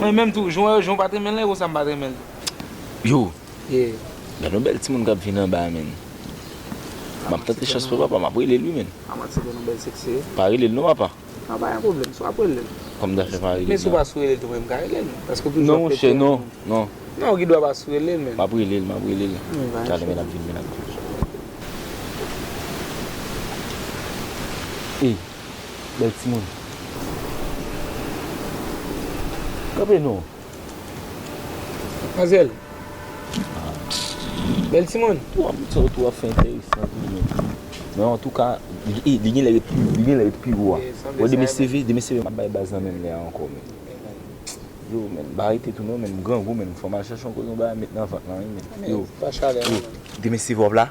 Mwen menm tou, jan w pa t renmen l lan e konsa m pa t renmen l tou. Yo! Gad yon bèl timoun k ap vin anba a menn. M ap tante chans mwen papa, m ap rele l wi menn. Pa rele l non papa. Kòm ta fè pa rele l la. Non monchè, non, non. M ap rele l, m ap rele l. Talè menn l ap vin, menn l ap vin. Bèl timoun. Kanpe non. Manzèl. Bèl timoun. Ou ap di sa ou tou ap fè enteresan tou men. Men antouka, e li genlè ret li genlè ret pi wo a. Bon demen seve, demen seve map bay baz nan menm lè a ankò men. Yo men, m pa rete tou non men m grangou men fòm al chèche yon koze yon bagay met nan vant lan wi men. Yo. Yo. Demen seve wap la?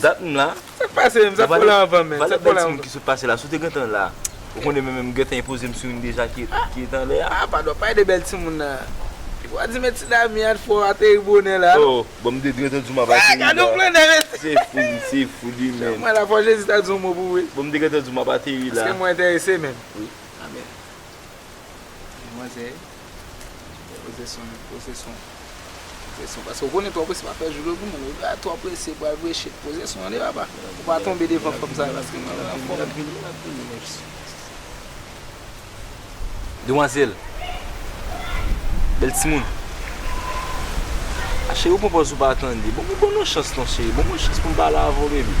Dat m la. Sak pase menm sa pou la anvan menm. Valè bèl timoun ki sot pase la si w te gentan la ou konnen menm m gentan enpoze m sou youn deja ki ret anlè a. Ah padon pale de bèl timoun nan. Li pa di men ti Dami an t fò ateri bonè la non. Oh bon m te gentan di w m ap ateri la. Gade yon grandè mesye. Se fou li se fou li menm. Jan mwen la fò Jezi ta di yon mo pou ou wi. Bon m te gentan di w m ap ateri la. Eske mwen enterese menm. Wi amen. Manzè. Pose son an, pose son an. Pose son an. Paske ou konnen twò prese pa fè joure pou moun. Lè twò prese pral preche. Pose son an de papa. Ou pa tonbe devan fanm sa yo paske nou nan fòm. Lap vini, lap vini menm si. Demwazèl. Bèl timoun. A cheri ou pran pòz ou pa tande. Bon banm yon chans non cheri. Banm yon chans poum pale avè w baby.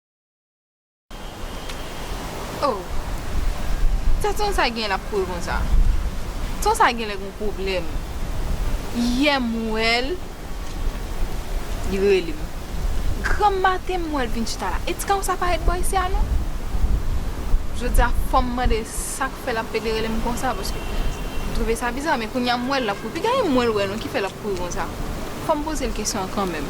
Oh sa ton sa genyen lap kouri konsa ton sa genlè gon pwoblèm yè m wèl li rele m granm maten m wèl vin chita la et kaw sa pa ret bò isi a non jodia fòm mande sak fè lap pede rele m konsa paske m twouve sa biza men kounya m wèl lap kouri piga e m wèl wè non ki fè lap kouri konsa fòm pozel kesyon an kanmèm.